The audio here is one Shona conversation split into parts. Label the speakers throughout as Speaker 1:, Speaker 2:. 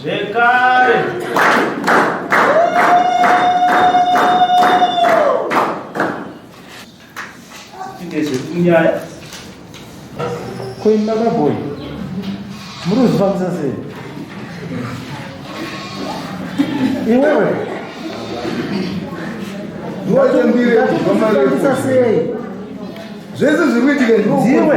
Speaker 1: zvekare. Ndezvekunyaya. Kuimba kaboyi. Muri kuzvifambisa sei? Iwewe. Ndakufambisa sei? Zvese zviri kuitika ndiwe.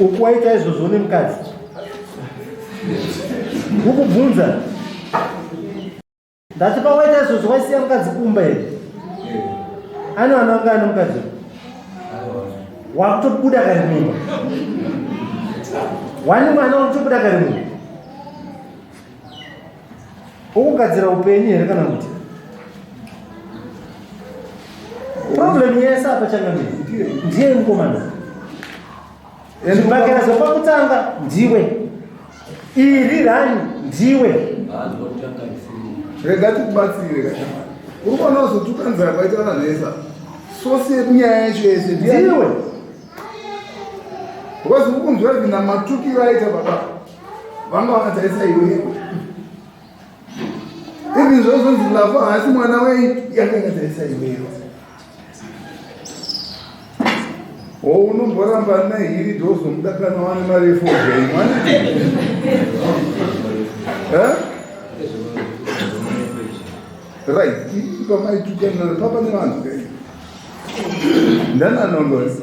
Speaker 1: ukuwaita izvozvo nemukadzi ukubvunza ndati pawaita izvozvo waisiya mukadzi kumba here ani vana vanga ane mukadzi wakutobuda kari mumba wani mwana wakutobuda kari mumba wokugadzira upenyu here kana kuti problem yese apa changamire ndiye mukomana zvibhakerezo pakutanga ndiwe iri rani ndiwe
Speaker 2: rega tikubatsire uri kuona uzotukanzira kwaita vanhu vese sosi yekunyaya yacho yese ndiwe because ukunzwa vina matukiro aita baba vanga vakatarisa iwe ivi zvozonzi lavo haasi mwana wei yanga ikatarisa iweyo o unomboramba nehiri dhozomuda kana wane mari yefogei mwana right ipa maitukanana papa nevanhu ndana nongozi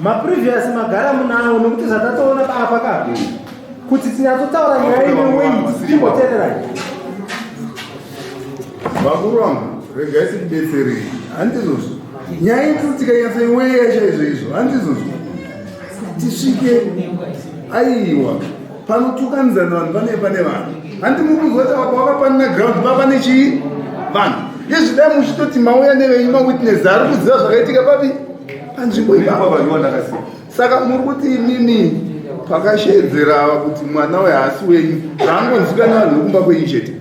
Speaker 1: maprevious magara munawo nokuti zvatatoona papa kapi kuti tinatotaura nyaya ine wei timboteererai
Speaker 2: vakuru vangu regai sikubetserei handizvozvo nyaya iti tikanyatsa imweya chaizvo izvo handizvozvo tisvike aiwa panotukanidzana vanhu pane pane vanhu handi mukuzwa kuti apa wakapanina ground papa nechii vanhu yezvidai muchitoti mauya nevenyu mawitness ari kuziva zvakaitika papi panzvimbo ipapavanyoandakasi saka muri kuti imimi pakashedzera ava kuti mwana uyo haasi wenyu zvaangonzikana vanhu vekumba kwenyu chete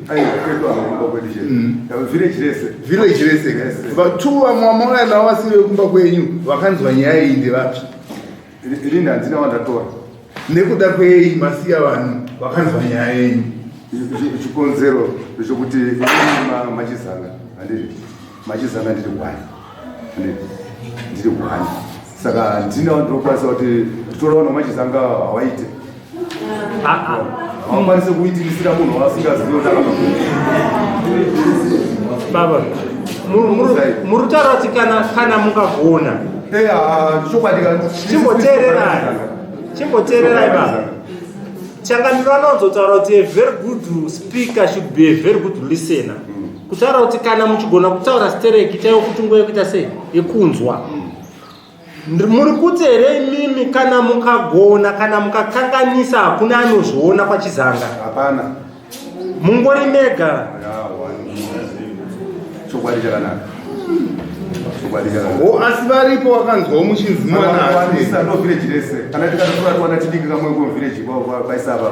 Speaker 2: village rese vatu vamwe vamauya navo vasiri vekumba kwenyu vakanzwa nyaya iyi ndevapi Rini
Speaker 3: handina wandatora. Nekuda
Speaker 2: kwei masiya vanhu vakanzwa nyaya yenyu? Chikonzero
Speaker 3: zvokuti machizana handiri machizana ndiri gwani ndiri gwani saka ndina ndinokwanisa kuti nditora vanhu vamachizanga hawaite haukwanise kuitirisira munhu waasingazivi
Speaker 1: baba muri kutaura kuti kana kana mungagona chimboteererai chimboteererai baba changamiro anonzotaura kuti a very good speaker should be a very good listener kutaura kuti kana muchigona kutaura stereki chaiwo kuti nguva yekuita sei yekunzwa mm. muri kuti here imimi kana mukagona kana mukakanganisa hakuna anozviona kwachizanga hapana
Speaker 3: mungori
Speaker 1: mega
Speaker 3: chokwadi chakanaka
Speaker 2: o asi varipo wakanzwawo muchinzi mwana asi ndovhireji rese
Speaker 3: kana tikatotora tiwana tidiki kamwe ko vhireji kwaisava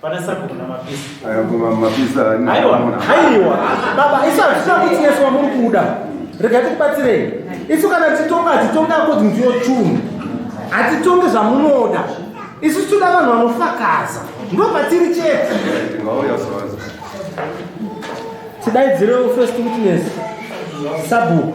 Speaker 4: Pana sabhuku na mapisa. Aya
Speaker 3: kuma mapisa ani. Aiwa, aiwa.
Speaker 1: Baba, isu hazvina kuti nesu wamuri kuda. Rega tikubatsirei. Isu kana titonga hatitonga kuti ndiyo chunhu. Hatitonge zvamunoda. Isu tinoda vanhu vanofakaza. Ndo patiri chete. Ngauya sawaza. Tidaidzire first witness. Sabhuku.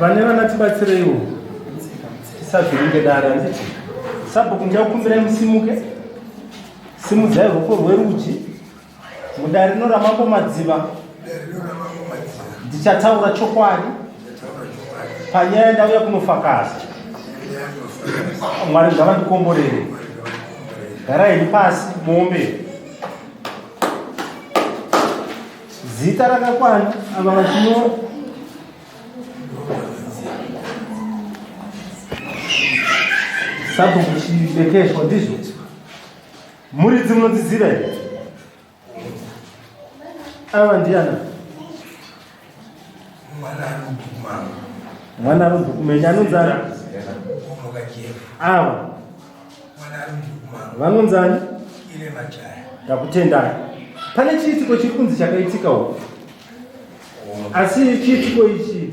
Speaker 1: vane vana tibatsireiwo tisazviringe dare anditi sabhuku ndichakukumbirai musimuke Simudzai ruoko rwerudyi mudare rino ramambo Madziva. Ndichataura chokwadi panyaya ndauya kunofakaza. Mwari ngavandikomborere. Garai pasi muombe. Zita rakakwana ava vachinyora sabhuku chibekeshwa ndizvo muridzi munodziziva here ava ndiana mwana arumbukumenya anonzani ava vanonzani ndakutendai pane chiitiko chiri kunzi chakaitika uku asi chiitiko ichi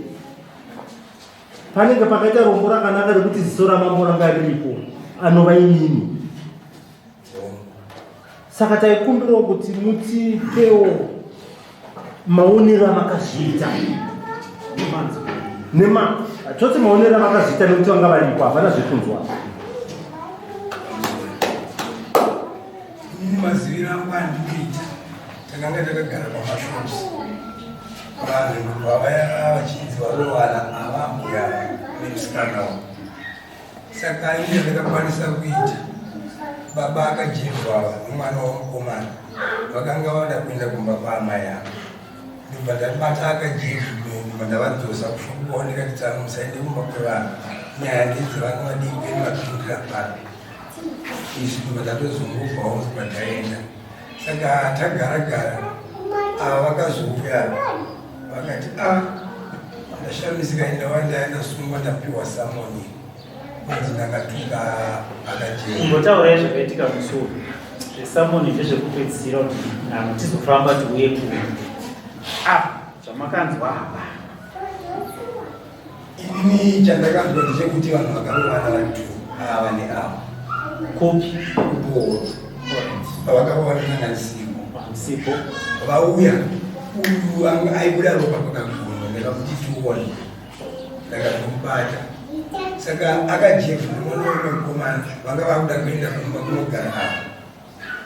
Speaker 1: panenge pakaita rombo rakanaka rekuti ziso ramambo ranga riripo anova inini saka taikumbirawo kuti mutipewo maonero amakazviita nema toti maonero amakazviita nekuti vanga varipo havana zvekunzwa
Speaker 5: ini maziviro angu andikuita Takanga takagara pamashops vanhu vavaya vachinzi varowana avambuya nemusikana uyu saka ine ndakakwanisa kuita baba akajirwa nomwana wamukomana vakanga vada kuenda kumba kwaamai avo ndobva ndabata akajirwa ndavadzosa kushokwa ndikatitsana musaende kumba kwevanhu nyaya ndidzi vanga vadii keni vapindira pano izvi ndobva ndatozungubvawo ndobva ndaenda saka tagara gara ava ah, vakazouya vakati a ah, ndashamisika enda wandaya ndasungwa ndapiwa samoni kunzi ndakatuka akatimbotaurai zvakaitika
Speaker 4: musuo zvesamoni ndezvekupedzisira kuti nano tizofamba tiuye kuno a ah, zvamakanzwa hapa
Speaker 5: Ini chandakanzwa ndechekuti vanhu vakarovana vari two ava neava kopi
Speaker 4: kupooro
Speaker 5: vakarovana nanasipo sipo vauya uyu anga aibuda ropa kwakaguma ndakakuti tione ndakazomubata saka akajevha mwana wemukomana vanga vakuda kuenda kumba kunogara ava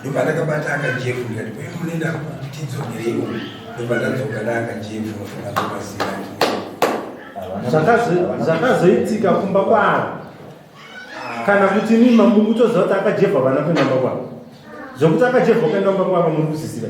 Speaker 5: ndobva ndakabata akajefu ndikati kwai munoenda kupi tidzokereiwo ndobva ndadzoka naakajefu ndadzoka ziyani zvakazoitika
Speaker 1: kumba kwavo kana kuti imi mamuri kutoziva kuti akajevha vana kuenda mba kwavo zvokuti akajevha ukaenda mba kwavo muri kusisira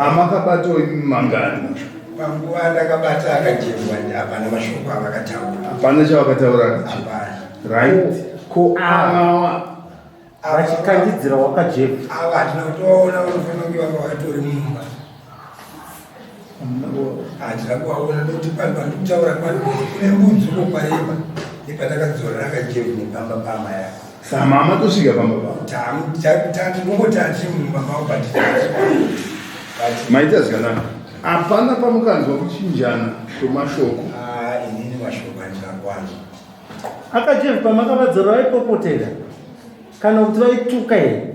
Speaker 2: amakabatwa imi mangani panguva
Speaker 5: ndakabata akajemwa hapana mashoko avakataura hapana chavakataura
Speaker 2: hapana
Speaker 5: right
Speaker 2: ko
Speaker 1: awa vachikandidzira wakajeva ava hatina kutoona
Speaker 5: vanofanira kunge vanga vakatori mumba handina kuvaona nekuti pano pandikutaura pano kune mbudzi uko kwaimba nepanakadzorera akajevu nepamba pama yako samama tosvika
Speaker 2: pamba patinongotati
Speaker 5: mumamao but
Speaker 2: maita zvikanaka hapana pamukanzwa kuchinjana kwemashoko ah, inini
Speaker 5: mashoko andina kwanza akajevu
Speaker 1: pamakavadzora vaipopotera kana kuti vaituka here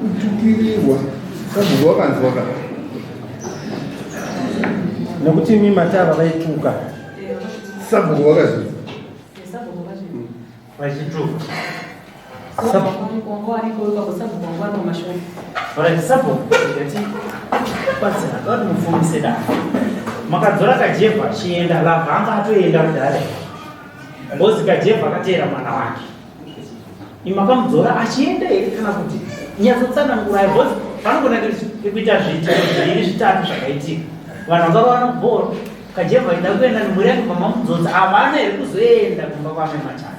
Speaker 2: kutukirirwa kabvunzo wakanzwa ka
Speaker 1: nokuti imi matava vaituka
Speaker 2: sabhuku
Speaker 4: wakazvinza vachituka makadzora kajevha chienda labva anga atoenda kudare ngozi kajevha akateera mwana wake imakamudzora achienda here kana kuti nyatsotsanangurai bcause panogona kuita zviitiko zviviri zvitatu zvakaitika vanhu vakavaona kubhoro kajeva ida kuenda nemhuri yake pamamudzodza havana here kuzoenda kumba kwame machana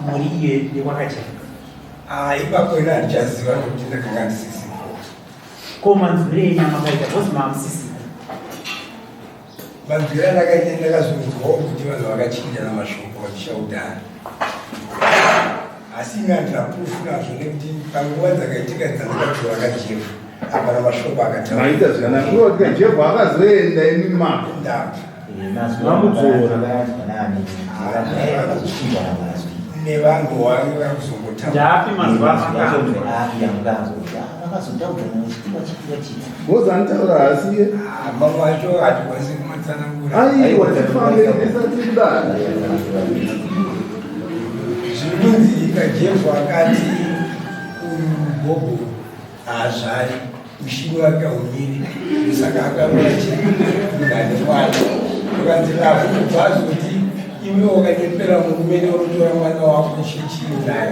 Speaker 4: mhuri iyo yekwakajeva ah,
Speaker 5: ipapo ina handichaziva nokuti ndakanga ndisisi ko
Speaker 4: manzwire enyama kaita bcause maamusisi
Speaker 5: Manzwiro andakaita ndakazonzwawo kuti vanhu vakachinjana mashoko vachishaudana asi imi handina proof nazvo nekuti panguva dzakaitika dzandakati vakajefa hapana mashoko akatamaita zvakanaka uno kuti
Speaker 2: kajefa akazoenda imi mako ndava
Speaker 5: nevanhu vange vakuzongotaaapi mazuva
Speaker 2: Boss anitaura haasi iye. Ah, baba vacho
Speaker 5: hatikwanisi kumatsanangura. Aiwa tifambe
Speaker 2: tisati kudana.
Speaker 5: Zvinonzika Jesu akati ubobo haazvari ushingi wake haumiri saka akaona chingani kwacho akanzi lafu kubva azoti iwe wakanyepera murume neunotora mwana wako chichii naye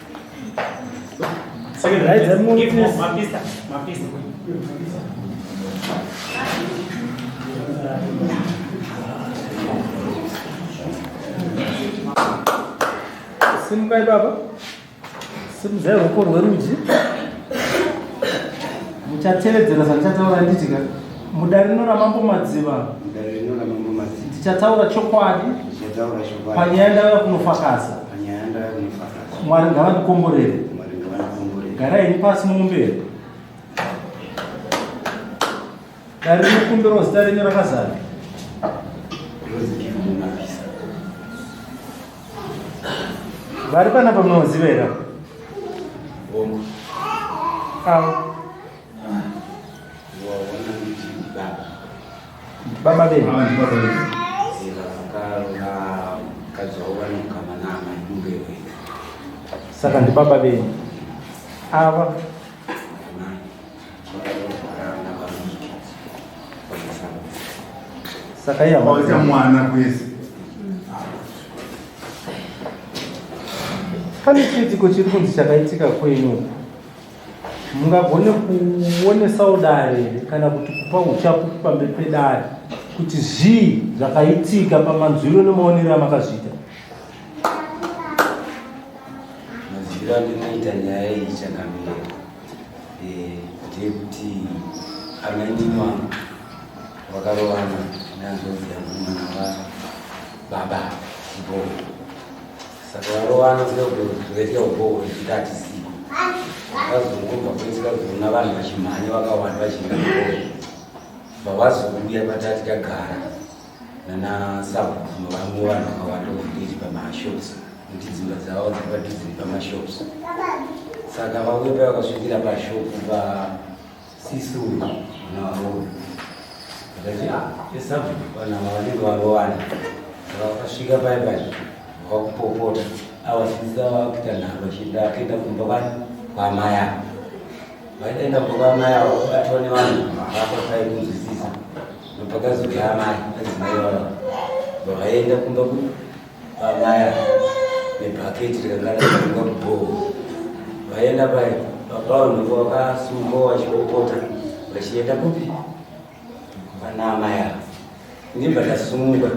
Speaker 1: Simukai baba, simuzai ruoko rwerudyi muchatevedzera zvandichataura nditika Mudare rino raMambo Madziva. Mudare rino raMambo Madziva. Tichataura chokwadi. Tichataura chokwadi. Panyaya ndauya kunofakaza. Panyaya ndauya kunofakaza. Mwari ngavandikomborere. Mwari ngavandikomborere. Gara henyu pasi mumberi. Dare rinokumbirwa zita renyu rakazara. Vari panapa munoziva here? Avo. Baba vedu saka ndi baba vedu ava saka iye awaita mwana kwese pane chiitiko chiri kunzi chakaitika kwenyu mungagone kuonesawo dare here kana kuti kupa uchapu pamberi pedare kuti zvii zvakaitika pamanzwiro nemaonero amakazviita
Speaker 6: mazwiro andinoita nyaya iyi chakamira eh, ndeyekuti amainima vakarovana nanzoviyamumana vababa ivo Saka varovana kuda kuzoita ugogo zvichita hatisiko. Vakazongobva kwese vazoona vanhu vachimhanya vakawanda vachimira ugogo. Vavazouya patati kagara nana sabhuno vamwe vanhu vakawanda kuzviti pamashops kuti dzimba dzavo dzakatidziri pamashops. Saka vauya pavakasvikira pashopu pa Sisi uyu mwana waroora ndakachiaesabu vanhu ava vanenge varowana saka vakasvika pai pai vakupopota avasisa vakuita nharo vachienda vakaenda kumba kwani kwamai avo vaitaenda kumba kwamai avo vabatwa nevanhu vapa pai kunzwisisa nopakazouya amai adzimai vava vakaenda kumba vamaya nebhaketi rakakaraiwa kubhoho vaenda pai papaunhu vakasumuka vachipopota vachienda kupi pana amai ava ndibva ndasumuka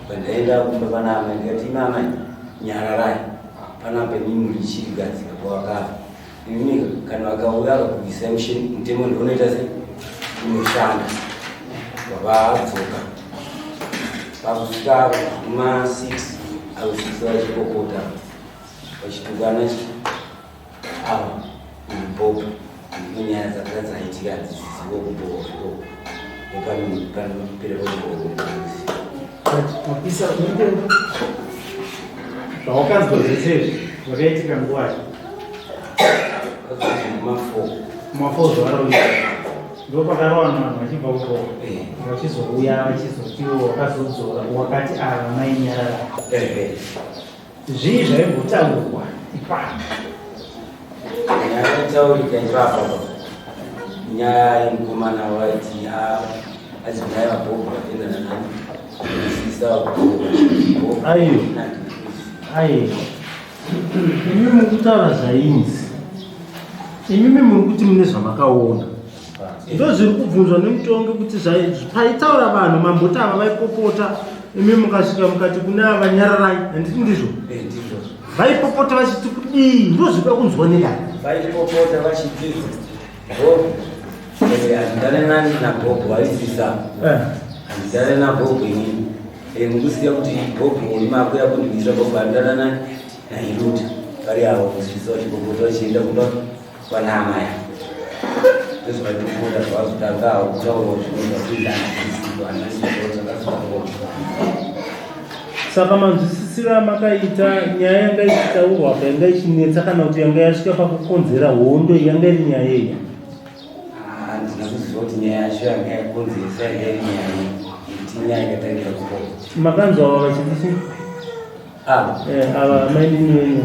Speaker 6: pandaenda kumba pana amai ndikati imi amai nyararai panapa mimi richiri gadzika kwavakava Ini kana vakauya vakabudisa mushini mutemo ndinoita sei unoshanda vavadzoka pakusvika ma 6 au 6 vachikokota vachitukana ava mubopo inyaya dzakanga dzaitika dzizivo kubooko nepanopererooisi
Speaker 4: mapisa zvawakazwa zvese zvakaitika nguvai ndopakarowana vanhu vachibva uko vachizouya vachizotiwo wakazodzora wakati ava mainyarara zvii zvaimbotaurwa ipapo
Speaker 6: nyaya yaitaurika ipapo nyaya yemukomana waiti azinyaya vabhobha vatenda nanani aiyo
Speaker 1: aiyo Imi muri kutaura zvainzi, imimi muri kuti mune zvamakaona, ndozviri kubvunzwa nemutongi kuti paitaura vanhu mamboti ava vaipopota, imi mukasvika mukati kune ava nyararai, handiti ndizvo? Eh, vaipopota vachiti kudii, ndozvikuda kunzwa nedai. Vaipopota
Speaker 6: vachiti handitare nani nagogo vaisisa handitare eh. nagogo ini eh, mukusiya kuti gogo muri makuya kundibisa gogo handitare nani nairuta vari avo kusisa vachigogoto vachienda kumba kwanamaya ndozvaitokunda zvavazotangavo kutaura zvinhu zvakuindaaiiaaiaaa
Speaker 1: Saka manzwisisiro amakaita nyaya yanga ichitaurwa apa yanga ichinetsa kana kuti yanga yasvika pakukonzera hondo yanga iri nyaya iyi
Speaker 6: handina ah, kuziva kuti nyaya yacho yanga yakonzeresa yanga iri nyaya iti nyaya yakatangira kuko makanzwa ava vachiti
Speaker 1: chii ah. eh, ava mainini wenyu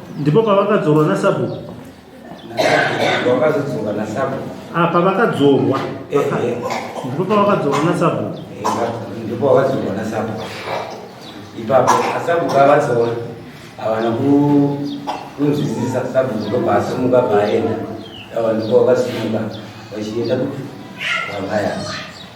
Speaker 6: Ndipo
Speaker 1: pavakadzorwa nasabhuku.
Speaker 6: Vakazodzoka nasabhuku. Ah, pavakadzorwa.
Speaker 1: Eh, eh. Ndipo pavakadzorwa nasabhuku. Eh, ndipo
Speaker 6: pavakadzorwa nasabhuku. Ipapo asabhuku avadzora havana kunzwisisa sabhuku ndobva asumuka bvaenda. Ava ndipo vakasumuka vachienda kuti vavaya.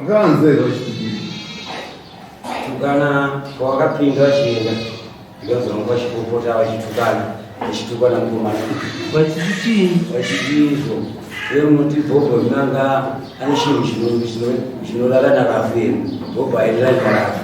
Speaker 2: Makavanzwei vachidii? Tukana
Speaker 6: kwawakapinda vachienda ndozonga vachipopota vachitukana vachitukana mukomana Vachidii? vachidiizvo iwe munoti bhobho rinanga ane chinhu chino- chino- chinorara narafu here bhobho hairira narafu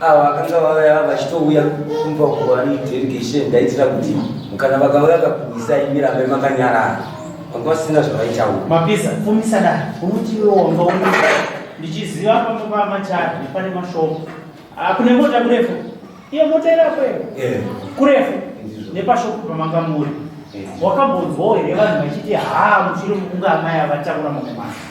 Speaker 6: ava vakanga vavaya vachitouya kumba kuwani delegation ndaitira kuti kana vakauya kakuisa imirambe makanyarara vanga vasina zvavaitaura mapisa fumisa
Speaker 4: da unuti iwe wanga u ndichiziva pamwe pamachari nepane mashopo ah, kune mota kurefu iyo mota irapo iyo eh. kurefu nepashopo pamanga muri eh. wakambonzwawo here vanhu vachiti haa muchiri mukunga amai avatakura mamwe masa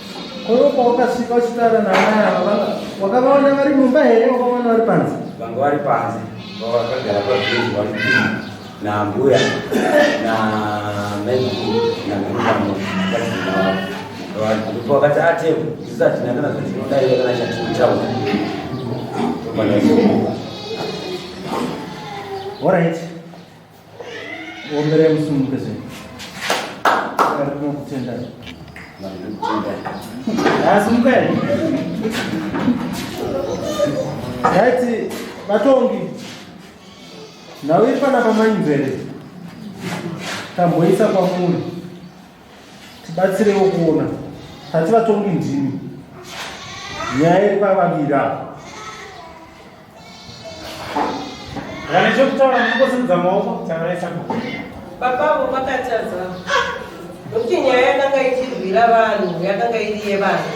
Speaker 1: Koro pawakasvika uchitaura naamai ava wakavaona vari mumba here wakavaona vari panze? Vanga vari panze
Speaker 6: vakagara pabhezi vakupinda naambuya namaiguru namamamo vazinaavo ndipo vakati atevo ah, isu hatina kana zvatinodaiva kana chatinotaura tobanaoa
Speaker 1: Alright. Omberei musimukeze. Ari kunokutendai. Asumukei. Yaiti vatongi. Nhau iri panapa mainzvere. Tamboisa kwamuri. Tibatsirewo kuona. Tati vatongi ndimi. Nyaya iri pavaviri apa.
Speaker 4: Kana chokutaura nekusimudza maoko taraisa ko. Baba vo
Speaker 7: vakatadza. Nokuti nyaya yakanga ichirwira vanhu yakanga iri yevanhu.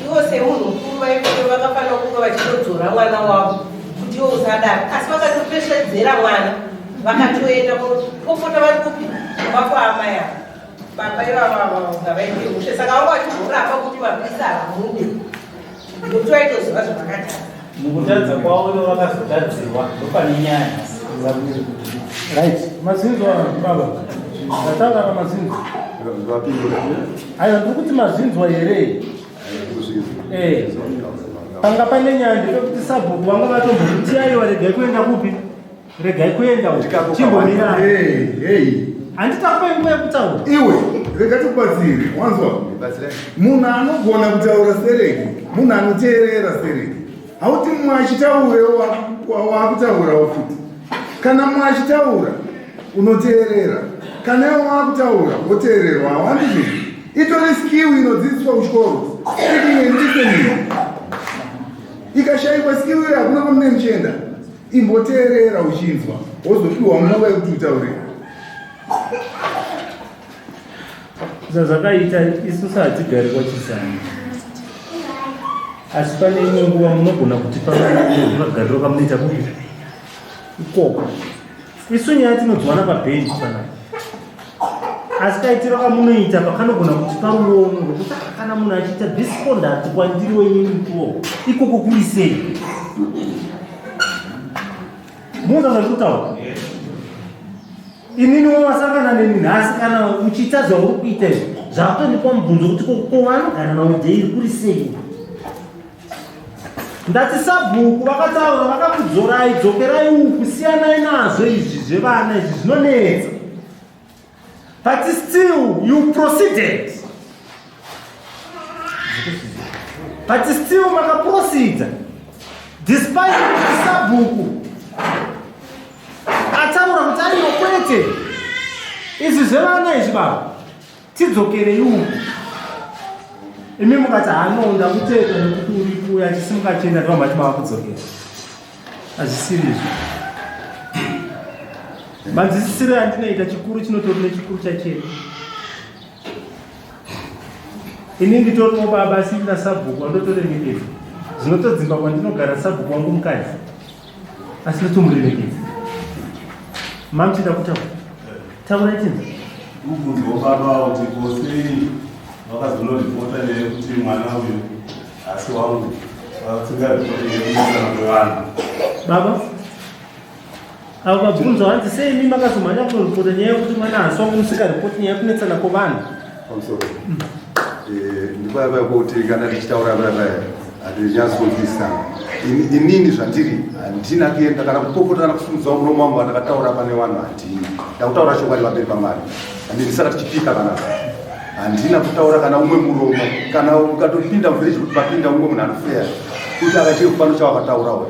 Speaker 7: Ivo semunhu mukuru vaikuti vakafanira kunge vachitodzora mwana wavo kuti ivo usadaro. Asi vakatopeshedzera mwana vakatoenda kopota vari kupi kumba kwaamai ava. Baba ivavavavo ngavaite mushe saka vanga vachimboramba kuti mapurisa hamunde. Muti waitoziva zvavakatadza. Mukutadza
Speaker 4: kwavo ivo vakazotadzirwa ndopane nyaya nhasi.
Speaker 1: Right. Mazinzo baba. Ndataura na mazinzo. Ayo ndiri kuti mazinzwa here? Eh. Panga pane nyaya ndepekuti sabhuku vanga vatombokutiyayi waregai kuenda kupi? regai kuenda uko chimbomirai Hey, hey. handitakupai nguva yekutaura Iwe, rega
Speaker 2: tikubatsire, wanzwa? Batsirai. Munhu anogona kutaura sereki, munhu anoteerera sereki. Hauti mumwe achitaurewo wa- wa- wakutaurawo futi. Kana mumwe achitaura, unoteerera. Kana iwe wakutaura, woteererwa. Hawandi zvinhu. Itori skill inodzidziswa kuchikoro. Speaking and listening. Ikashaikwa skill iyo hakuna kwamune muchienda. imboteerera uchinzwa wozopiwa nguva yekuti utaurira
Speaker 1: zvazvakaita isu saatigari kwachisani asi pane imwe nguva munogona kuti pavaa magariro kamunoita kupi ikoko isu nyaya tinodziwana pabhenji panai asi kaitiro kamunoita pakanogona kuti paruono rwekuti kana munhu achiita disconduct kwandiri wenyu mutuo ikoko kuri sei muona zvati kutaura inini wamasangana neni nhasi kana uchiita zvauri kuita izvi zvakutondipa mubvunzo kuti kovanogara navo dzeiri kuri sei ndati sabhuku vakataura vakakudzorai dzokerai uku siyanai nazvo izvi zvevana izvi zvinonetsa but still you proceeded but still makaproceda despite kuti sabhuku ataura kuti ariyo kwete izvi zvevana izvi baba tidzokerei uku imi mukati hanoda kuteta nekuti uri kuuya achisimuka achienda ndovamati mava kudzokera hazvisirizvo manzisisiro yandinoita chikuru chinotori nechikuru chachena ini nditoriwo baba sina sabhuku wandotore mitezo zvinotodzimba kwandinogara sabhuku wangu mukadzi asi totomuremekedza mami tida kutaura taura itinza kubvunzwa
Speaker 8: baba kuti kosei vakazonoripota nekuti mwana uyu asi wangu vasingaripoti nekumusana kwevanhu baba
Speaker 1: avo vabvunzwa hanzi sei mi makazomhanya kunoripota nyaya yekuti mwana hasi wangu musikaripoti nyaya yekunetsana kwevanhu
Speaker 3: ndipavaya kuti kana tichitaura vavaya hatinyazonzwisana inini zvandiri handina kuenda kana kupopota kana kusimudza muromo wangu vandakataura pane vanhu handini ndakutaura chokwadi vamberi pamari ande ndisaka tichipika kana handina kutaura kana umwe muromo kana ukatopinda muvhiriji kuti papinda umwe munhu anofeya kuti akachiri kufano chawakataurawo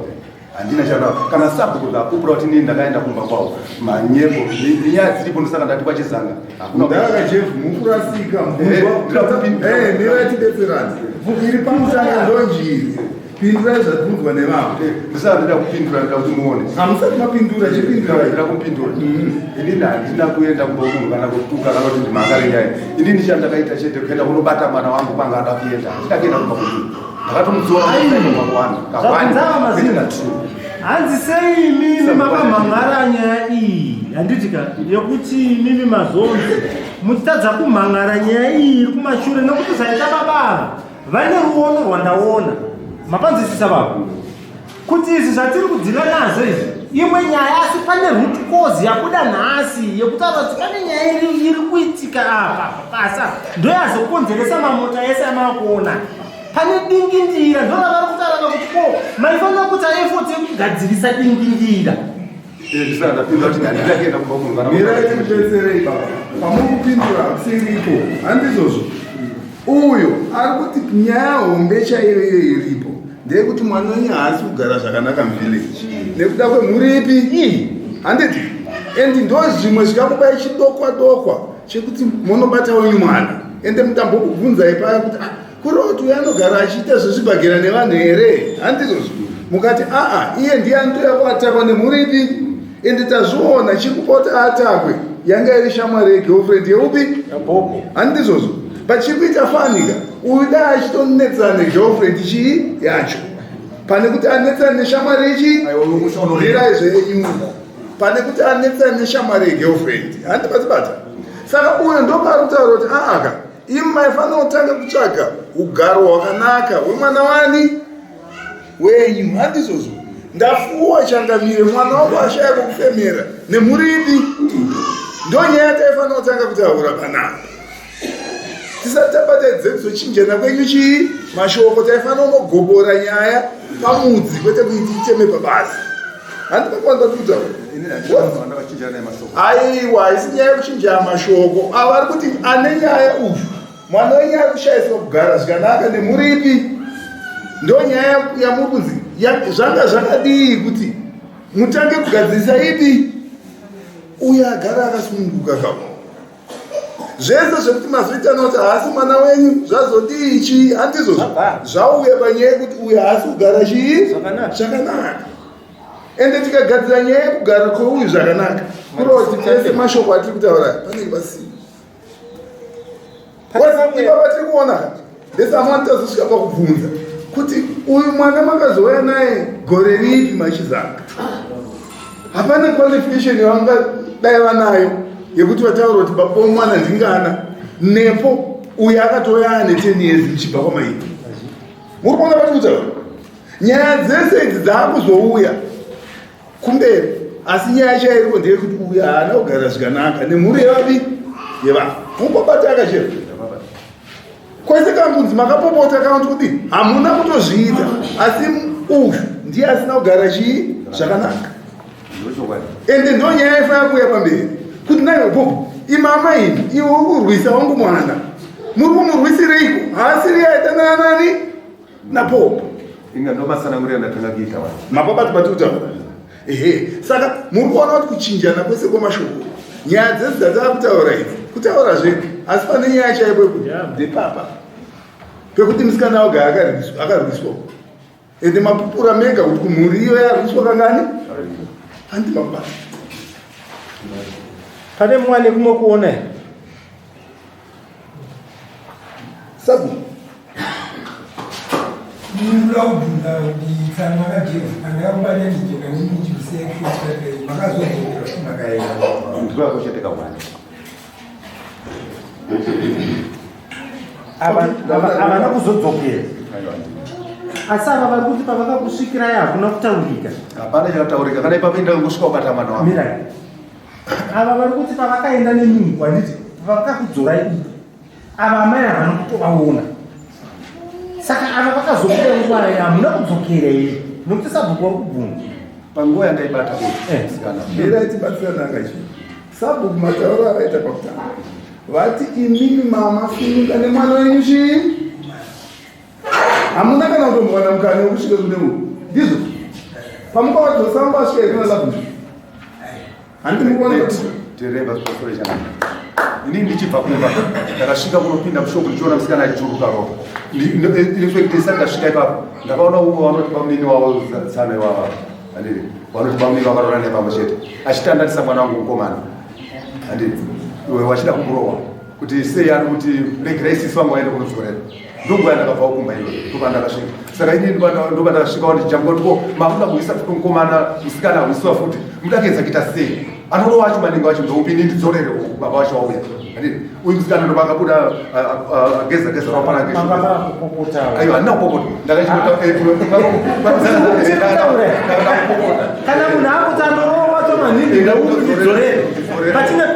Speaker 3: handina chandava kana sabhuku ndapupura kuti ndini ndakaenda kumba kwavo manyepo nenyaya dziripo ndosaka ndati kwachizanga
Speaker 2: hakunaaakajemukurasikamuaatibetserani eh, eh, iri pamusanga ndonjiri pindurai zvatinzwa nevamwe eh, ndisati ndida kupindura
Speaker 3: ndida kuti muone hamusati mapindura
Speaker 2: chipinduraida kupindura mm-hmm.
Speaker 3: inini handina kuenda kumba munhu kana kutuka kana kuti ndimakarenyaya inini chandakaita chete kuenda kunobata mwana wangu kwanga ada kuenda handina kuenda kumba kumunhu
Speaker 1: hanzi sei imimi makamhan'ara nyaya iyi handiti ka yekuti imimi mazonzi muchitadza kumhan'ara nyaya iyi iri kumashure nekuti zvaita babava vaine ruono rwandaona mapanzisisa vavo kuti izvi zvatiri kudhila nazvo izvi imwe nyaya asi pane root cause yakuda nhasi yekutaura kuti pane nyaya iri iri kuitika apa pasa ndoyazokonzeresa mamota ese amakuona pane dingindira ndoravari kutaura kuti ko maifanira kuti aefoti yekugadzirisa dingindira
Speaker 2: pamukupindura siripo handizvozvo uyo ari kuti nyaya hombe chaiyo iyo iripo ndeyekuti mwana wenyu haasi kugara zvakanaka muvillage nekuda kwemhuripi ii handiti and ndo zvimwe zvikakubai chidokwa dokwa chekuti monobata wenyu mwana ende mutambokubvunzai paya kuti ah, Kuroti uyo anogara achiita zvechibhagera nevanhu here? Handizvozvo. Mukati aa iye ndiye anotoya kuatakwa nemhuri ipi? Ende tazviona chikupota atakwe yanga iri shamwari yegirlfriend yeupi? Yabobo. Handizvozvo. Pachiri kuita fanika uyu dai achitonetsana negirlfriend chii yacho pane kuti anetsana neshamwari ichi Aiwa, uyu musha unorira. ndirai zvenyu pane kuti anetsana neshamwari yegirlfriend handibatibata saka uyo ndopaari kutaura kuti aaka imi maifanira kutanga kutsvaga ugaro hwakanaka hwemwana wani wenyu handizvozvo ndafuwa changamire mwana wangu ashaya kokufemera nemhuri ipi ndonyaya taifanira kutanga kutaura panapa tisati tabata dzedzo chinjana kwenyu chii mashoko taifanira unogobora nyaya pamudzi kwete kuiti iteme pabasa aiwa haisi nyaya yekuchinja mashoko ava ari kuti ane nyaya uyu mwana wenyaya kushaiswa kugara zvikanaka nemuripi ndo nyaya yamuri kunzi zvanga zvakadii kuti mutange kugadzirisa ipi uye agara akasununguka kavo zvese zvekuti mazoita noti haasi mwana wenyu zvazodii chii handizvo zvauya panyaya yekuti uyu haasi kugara chii zvakanaka ende tikagadzira nyaya yekugara kweuyu zvakanaka kurova kuti tese mashoko atiri kutaura panenge pasii ipapa tiri kuona ndesamwati tazosvika pakubvunza kuti uyu mwana makazouya naye gore ripi machizanga hapana qualification yavangadai vanayo yekuti vataura kuti baba wemwana ndingana nepo uyo akatouya ane ten years muchibva kwamaiti muri kuona vati kutaura nyaya dzese idzi dzaakuzouya kumberi asi nyaya yacho yairiko ndeyekuti uyu haana kugara zvikanaka nemhuri yevapi yevanhu mupopata akachera kwese kambunzi makapopota kana kuti kudii hamuna kutozviita asi uyu ndiye asina kugara chii zvakanaka ende ndo nyaya yaifanira kuuya pamberi kuti naivo bho imama ini iwe uri kurwisa wangu mwana muri kumurwisireiko haasiri yaitanana nani napopa inga
Speaker 3: ndomatsanangurira ndatanga kuita wa mapapa tibati kutaura
Speaker 2: ehe saka muri kuona kuti kuchinjana kwese kwemashoko nyaya dzese dzatava kutaura idzi kutaura zve asi pane nyaya chaipo yekuti ndepapa pekuti musikana oga akarwiswa ende mapupura mega kuti kumhuri iyo yarwiswa kangani handi mapapa
Speaker 1: pane mwane kumwe kuona here
Speaker 2: Sabu. Ndikwakucheteka
Speaker 1: mwana. Havana kuzodzokera. Asi ava vari kuti pavakakusvikirai hakuna kutaurika. Hapana chakataurika.
Speaker 3: Kana ipapo indakusvika ukatama nawo. Mirai.
Speaker 1: ava vari kuti pavakaenda nemunhu wanditi vakakudzorai uku ava amai havana kutovaona saka ava vakazokuda nguva ya hamuna kudzokera here nokuti sabhuku wari kubvunza panguva yandaibata
Speaker 3: ndiraitibatsirananga
Speaker 2: eh. chi sabhuku matauro avaita pakutanga vati imimi mama finuka nemwana wenyu chii hamuna kana kutombowana mukana wekusvika kune uku ndizvo pamukavadzosa mukasvika ikuna labu handi mukuonatereva
Speaker 3: zvosorechana ini ndichibva kumba ndakasvika kunopinda mushopu ndichiona musikana achichuruka ropa ndifekitesa ndasvika ipapo ndakaona umwe vanoti bamnini wavo tsana ivava andiri vanoti bamnini vakarora nepamwe chete achitandatisa mwana wangu mukomana andiri iwe wachida kumurowa kuti sei ari kuti regerai sisi vangu vaende kunodzorera ndokuya ndakabvawo kumba iyo ndopandakasvika saka ini ndopandakasvikawo ndichijambwa kuti ko makuda kuisa futi mukomana musikana akuisiwa futi mudakedza kuita sei anoda wacho maningi wacho ndoupi ini ndidzorere baba wacho wauya uyu musikana ndopakabuda ageza geza rapanaaaiwa handina kupopota ndakaiaakupopota kana munhu
Speaker 1: akutandorowa wacho maningi ndoupi ndidzorere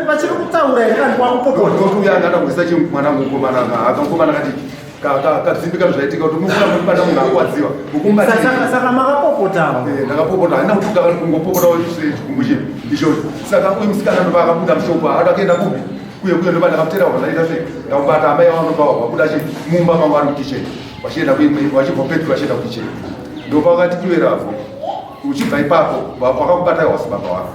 Speaker 1: vachiri kutaura here vanhu kwakupokoaangada kuisa chi
Speaker 3: mwana mukomana akakomana kati kadzimbika zvaitika kuti mukura mubata munhu akwadziwa ukumbasaka
Speaker 1: makapopotawo eh, ndakapopota haina
Speaker 3: kutuka vari kungopopotawo chikumbu chino ichocho saka uyu musikana ndova akabuda mushoko haada kuenda kupi kuye kuye ndoba ndakapotera wazvaita se ndakubata amai vavo ndoba wakuda chi mumba mangu ari mukicheni vachienda kuimwe vachibva petro vachienda kukicheni ndopa vakati iweravo uchibva ipapo wakakubata wasi baba wako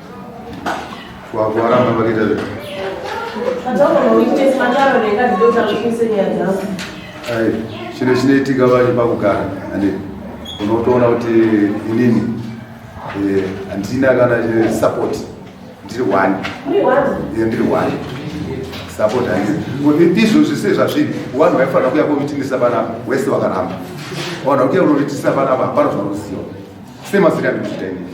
Speaker 3: Wakuwaramba pakita zve. Ayi, chine chinoitika vacho pakugara ande unotoona kuti inini eh, handina kana eh, support ndiri one Eh, ndiri one support handina Kuti izvozvi se zvazviri vanhu vaifanira kuya kovitinisa panapa wese wakaramba vanhu vakuya unovitinisa panapa hapana zvanoziva Same as Riyadh kuchita ini.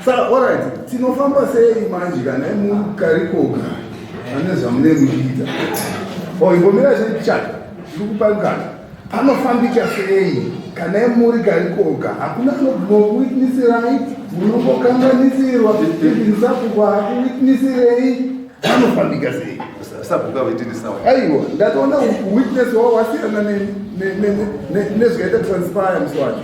Speaker 3: Saka
Speaker 2: alright, tinofamba sei manje kana mukarikoga ane zvamune muchiita. Oh, ingomira sei chat. Ndiri kupa ngana. Panofambika sei kana muri karikoga hakuna anokuwitnesirai munongokanganisirwa ibinsapuko hakuwitnesirei vanofambika sei sabhuka
Speaker 3: vaitinisawa aiwa ndatoona
Speaker 2: witness wawasiyana nezvikaita transpire muswacho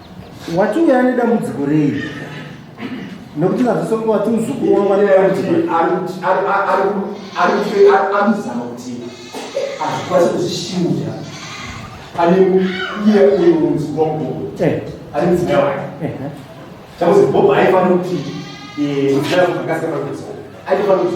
Speaker 1: watiuya nedambudziko rei nokuti ngazvisongo wati muzukuru wangu anedambudzikoanozama
Speaker 9: kuti azvikwanisa kuzvishinja pane iye uyo muzukuru wangu eh. ari mudzimai wake eh, eh. chakuzi bob aifanira kuti muzimai wake akasika pakuziva aifanira kuti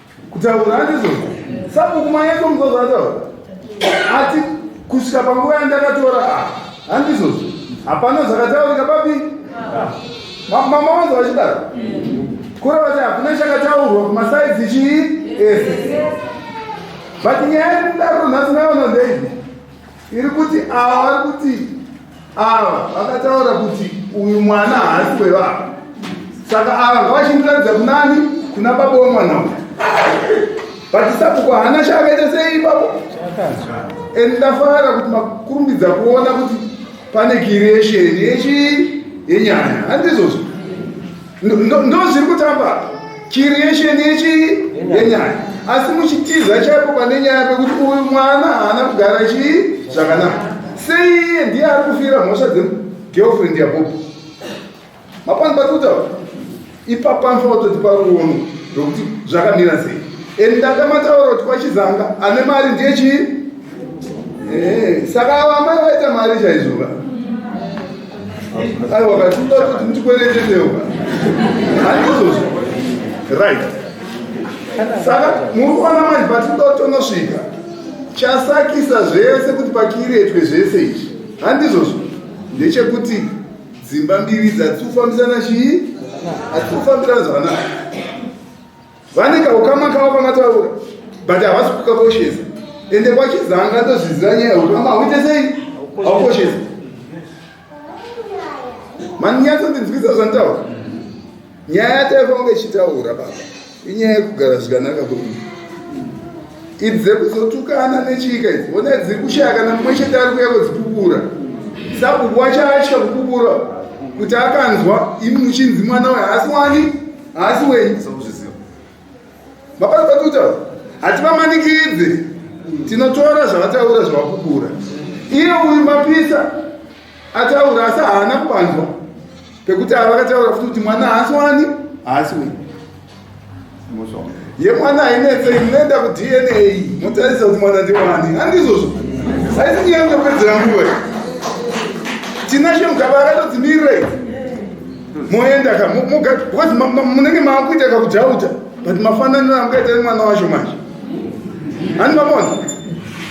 Speaker 2: kutaura handizvo sabhuku manyeto muzozo ataura ati kusvika panguva yandakatora ah, handizvozvo hapana zvakataurika papi mama wanzo vachidaro kureva kuti hakuna chakataurwa kumasaizi chii ese but nyaya yekudaro nhasi naona ndeivi iri kuti ava vari kuti ava vakataura kuti uyu mwana haasi wevava saka ava ngavachindiratidza kunani kuna baba wemwana uyu vatisapuko hana chakaita sei ipapo and ndafara kuti makurumbidza kuona kuti pane kiresheni yechii yenyaya handizvozvo ndozviri kutamba creation yechi yenyaya asi muchitiza chaipo pane nyaya pekuti uyu mwana haana kugara chii zvakanaka sei iye ndiye ari kufira mhosva dzegirlfriend yabobo mapani pari kutaura ipapa anofanira kutoti paruono rwekuti zvakamira sei and ndanga mataura kuti kwachizanga ane mari ndiye chii eh, saka ava amai vaita mari chaizvova aiwa katiuda kuti ndikweretetewo handizozvo right saka muri kuona manje patinoda kutonosvika chasakisa zvese kuti pakiretwe zvese izvi handizvozvo ndechekuti dzimba mbiri dzatsi kufambisana chii atsi kufambirana zvakanaka vane kaukama kavo kamataura but havasi kukakoshesa ende kwachizanga tozviziva nyaya ukama hauite sei haukoshesa manyatsondinzwisa zvantaura nyaya yataifa kunge ichitaura baba inyaya yekugara zvikanaka kwedu idzi dzekuzotukana nechika idzi ona dziri kushaya kana mumwe chete ari kuya kwedzikubura sabhuku wacho atya kukubura kuti akanzwa imi muchinzi mwana uyo haasi wani haasi wenyu sokuzviziva mapasi patutaura hativamanikidze tinotora zvavataura zvavakubura iye uyu mapisa ataura asi haana kubanzwa pekuti avakataura futi kuti mwana haasi wani haasi wenyu yemwana hainetse inoenda kudna motarisa kuti mwana ndiwani handizvozvo aisi nyaya yekupedzera nguva tinashe mugaba akatodzimirirei moenda ka because munenge maakuita kakujauja but mafananiro amukaita nemwana wacho manje hani mamona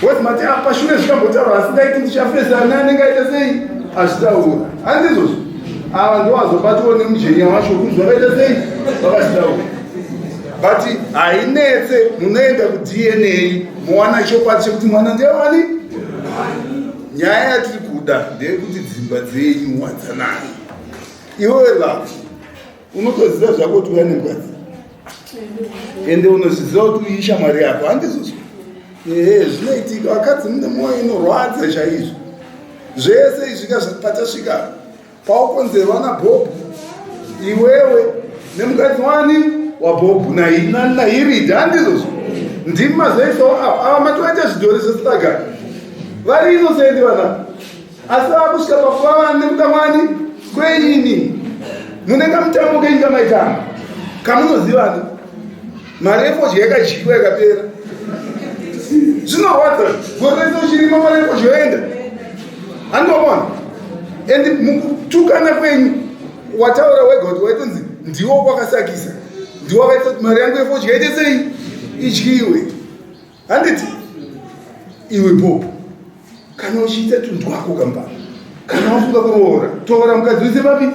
Speaker 2: because mati apa shure zvikambotaura asi ndaiti ndichafesa ne anenge aita sei azvitaura handi izvozvo ava ndowazobatiwo nemujenya wacho kunzi vakaita sei vakazvitaura but hainetse munoenda kudna mowana chokwadi chekuti mwana ndewani nyaya yatiri kuda ndeyekuti dzimba dzenyu wadzanani iwewe love unotoziva zvako kuti uya nemukadzi ende unozviziva kuti uyiisha mwari yako handizvozvo ehe zvinoitika vakadzi mune mwoyo inorwadza chaizvo zvese izvika patasvika paukonzerwa nabhobhu iwewe nemukadzi wani wabhobhu nairida handizvozvo ndimi mazoisawo ava ava matovaita zvidhori zvesitagara vari inosendi vana asi vakusvika pakuva vana nekuda mwani kweini munenge mutambo kenyika maitama kamunozivana mari efodya yakadyiwa yakapera zvinorwadza gore rese uchirima mari efodya yoenda andomona and mukutukana kwenyu wataura wega kuti waitonzi ndiwo kwakasakisa ndiwo akaita kuti mari yangu efodya ite sei idyiwe handiti iwe bob kana uchiita tunhu twako kamba kana wafunga kuroora tora mukadzi wese papi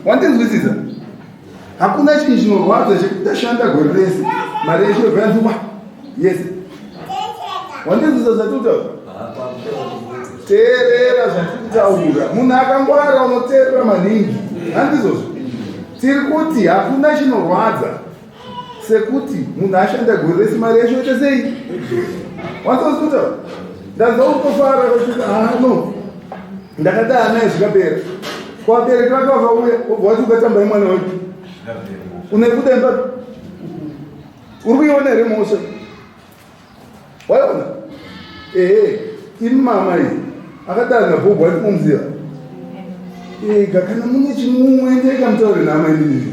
Speaker 2: wandinzwisisa hakuna chinhu chinorwadza chekuti ndashanda gore rese mari yeshe yobva yandiwa yes wandinzwisisa zvatiutaura teerera zvatikutaura munhu akangwara unoteerera maningi handizozvo tiri kuti hakuna chinorwadza sekuti munhu ashanda gore rese mari yacho yoita sei wansoskuta ndanzwa kutofara kuti hano ah, ndakataa naye zvikapera kwabereki vake vakauya obva wati ukatamba imwana wake unekuda imba uri kuiona here mhosva waiona ehe imama iyi akatanga bhobho ati mumziva ega kana mune chimumwe ndeka mutaure naamai ndinii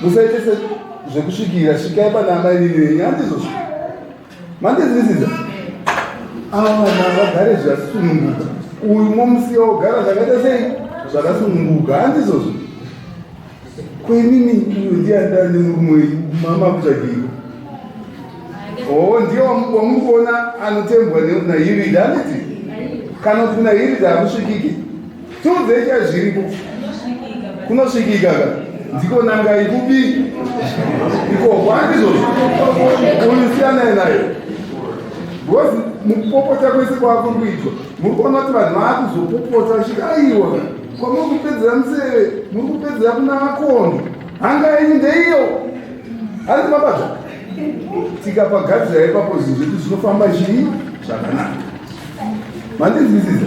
Speaker 2: musaite se zvekusvikira svikai pana amai nini handizozvo mandizvisiza ava vana vagare zvakasununguka uyu momusiya wogara zvakaita sei zvakasununguka handizozvo kwenini uyu ndiandani murume wenyu mama kutsvagirwa oo ndiye wamuri kuona anotembwa nayirida handiti kana kuti kuna yirida hamusvikiki Tiudzei chai zviripo. Kunosvikika ka. Ndiko nanga ikupi? Ikoko handizvozvo. Uyu siyanai naye. Because mukupopota kwese kwakuri kuitwa muri kuona kuti vanhu vaakuzopopota vachiti aiwa kwamuri kupedzera museve muri kupedzera kuna makondo hanga yenyu ndeiyo hanzi mabata tikapagadzira ipapo zvinhu zvedu zvinofamba chii zvakanaka mandinzwisisa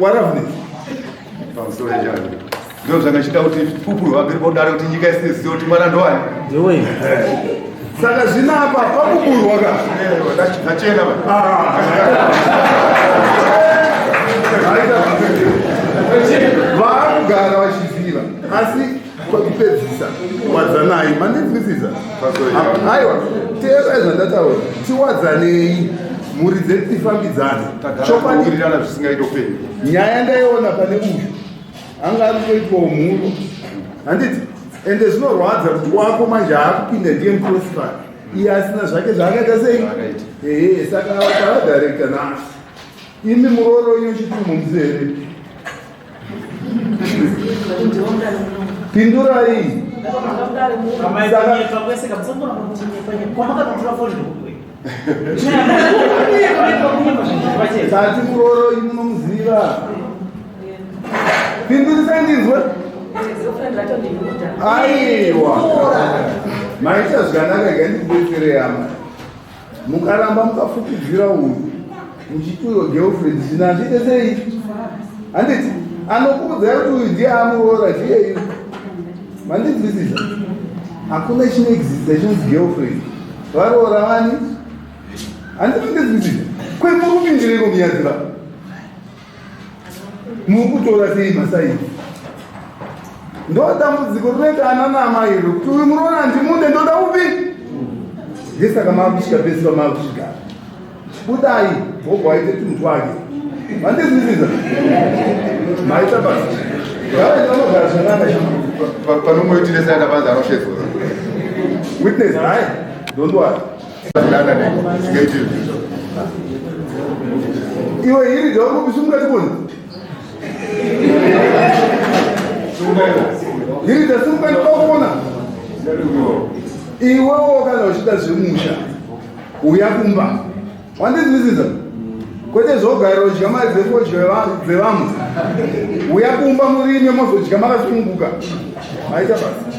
Speaker 2: waravness
Speaker 3: pamusoro chavo ndizvo zvanga chiita kuti pupuro vapiri podare kuti nyika isine zivo kuti mwana ndowani
Speaker 2: saka zvino apa pakuburwa ka ndachena vaakugara vachiziva asi kwekupedzisa wadzanai manenzwisisa aiwa teerai zvandataura tiwadzanei mhuri dzedu tifambidzane chokwadirirana
Speaker 3: zvisingaito pei nyaya ndaiona
Speaker 2: pane uyu anga ari kutoitwawo mhuru handiti ende zvinorwadza kuti wako manje aakupinda ndiye muprosifa iye asina zvake zvaakaita sei ee saka avataadirekta nasi imi murooro inochitiri mumzere pindurai tati kuroro ini munomuziva pindurisai ndinzwe aiwa maita zvakanaka gandibetsere yama mukaramba mukafukidzira uyu muchiti uyo girlfriend zvino hazviite sei handiti anokuudzai kuti uyu ndiye amuroora chiyeiyo mandinzwisisa hakuna chinoexista chinonzi girlfriend varoora vani handiti mandinzwisisa kwemurume ndireko miyadzira mukutora sei masaidi ndodambudziko rinoita ana naamai iro kuti uyu muruona handimude ndoda upi ndesaka maakusvika pese pamaakusvika budai gogo aite tunhu twake vandizvisiza maita basa avanogara zvanaka panomoitiresa
Speaker 3: yakavanza anoshezora
Speaker 2: witness hayi don't worry iwe hiri dzaurikubisimukatiboni hiri dzasimukanikakona iwewo kana uchida zvemusha uya kumba wandizivisiza kwete zvogara udya mari dzefodya dzevamwe uya kumba murime mozodya makasununguka aita basi